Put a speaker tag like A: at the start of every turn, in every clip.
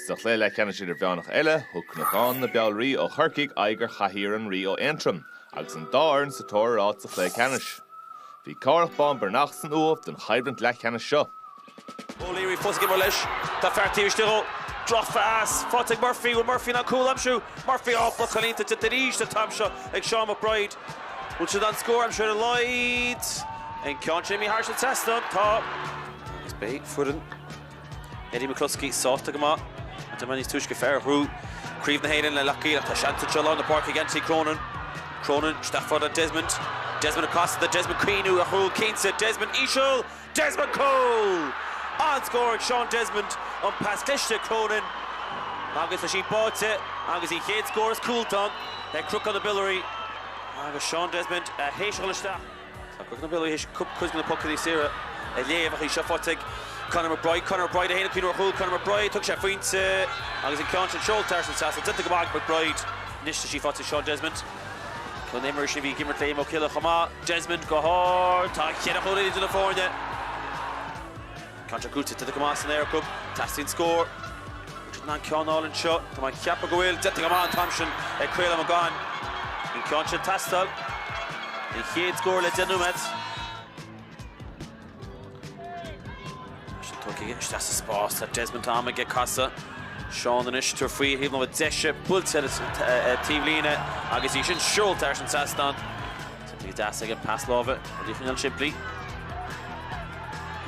A: Sa chluiche leathcheannais idirmheánach eile, thug Cnocán na Biolraí ó Chorcaigh aghaidh ar Chathaoir an Rí ó Aontroim agus an dá fhoireann sa tóir ar áit sa chluiche ceannais. Bhí Cárthach Bán Breathnach san Uaimh don choimhlint leathcheannais seo.
B: O'Leary fós ag imirt leis. Tá fear taobh istigh dhó. Drochphas! Faighte ag Murphy! Bhfuil Murphy in ann cúl a aimsiú? Murphy! Á, blocáil iontach déanta arís an t-am seo ag Seán McBride. Bhfuil siad in ann scór a aimsiú ar a laghad? An ceann sin imithe thairis an trasnán? Tá. Agus beidh foireann Eddie McCloskey sásta go maith an tamall níos túisce fear a bhuaigh craobh na hÉireann le Loch gCaol tá seans anseo lár na páirce ag Anthony Cronin. Cronin isteach fhad le Desmond. Desmond ag casadh tá Desmond ag cuimhniú ar chúl cinnte, Desmond íseal, Desmond cúl! An-scór ag Seán Desmond, an pas cliste ag Cronin agus tá sí báite agus an chéad scór is cúl atá ann ag Cnocán na Biolraí agus Seán Desmond a sheiceáil isteach. Tá Cnocán na Biolraí théis cuid mhaith de na pocannaí saora a léamh ach í seo faighte ag Conor McBride. Conor McBride, féin ag cuimhniú ar chúl Conor McBride. Thóg sé a phointe agus an ceann sin seolta thairis an trasnán. Déanta go maith ag McBride. Anois tá sí faighte ag Seán Desmond. Ceann de na himreoirí sin a bhí ag imirt le Imokilly chomh maith. Desmond go hard. Tá cheithre chúilín idir na foirne. Ceann sin gnóite troidte go maith san aer acu. Teastaíonn scór. An bhfuil siad in ann ceann a fháil anseo. Tá mé ag ceapadh go bhfuil. Déanta go maith an t-am sin ag Caolán McCaughan. An ceann sin ag teastáil. An chéad scór le deich nóiméad. Tá sé tugtha aige. Isteach sa spás. Tá Desmond tá am aige casadh. Seán anois ag tabhairt faoi thaobh na deise. Buailte ar an taobhlíne agus í sin seolta thairis an trasnán. Bhí deas aige pas láimhe ó Liam Foley an-simplí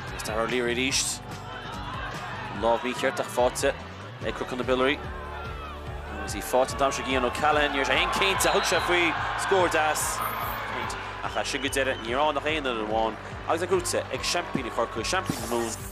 B: agus Daire O'Leary arís. An lámh in uachtar faighte ag Cnocán na Biolraí agus í faighte an t-am seo ag Ian O'Callaghan. Ní raibh sé an-chinnte thug sé faoi scór deas ach as sin go deireadh ní raibh ann ach aon fhoireann amháin agus é gnóite ag seaimpíní Chorcaí, seaimpíní na Mumhan.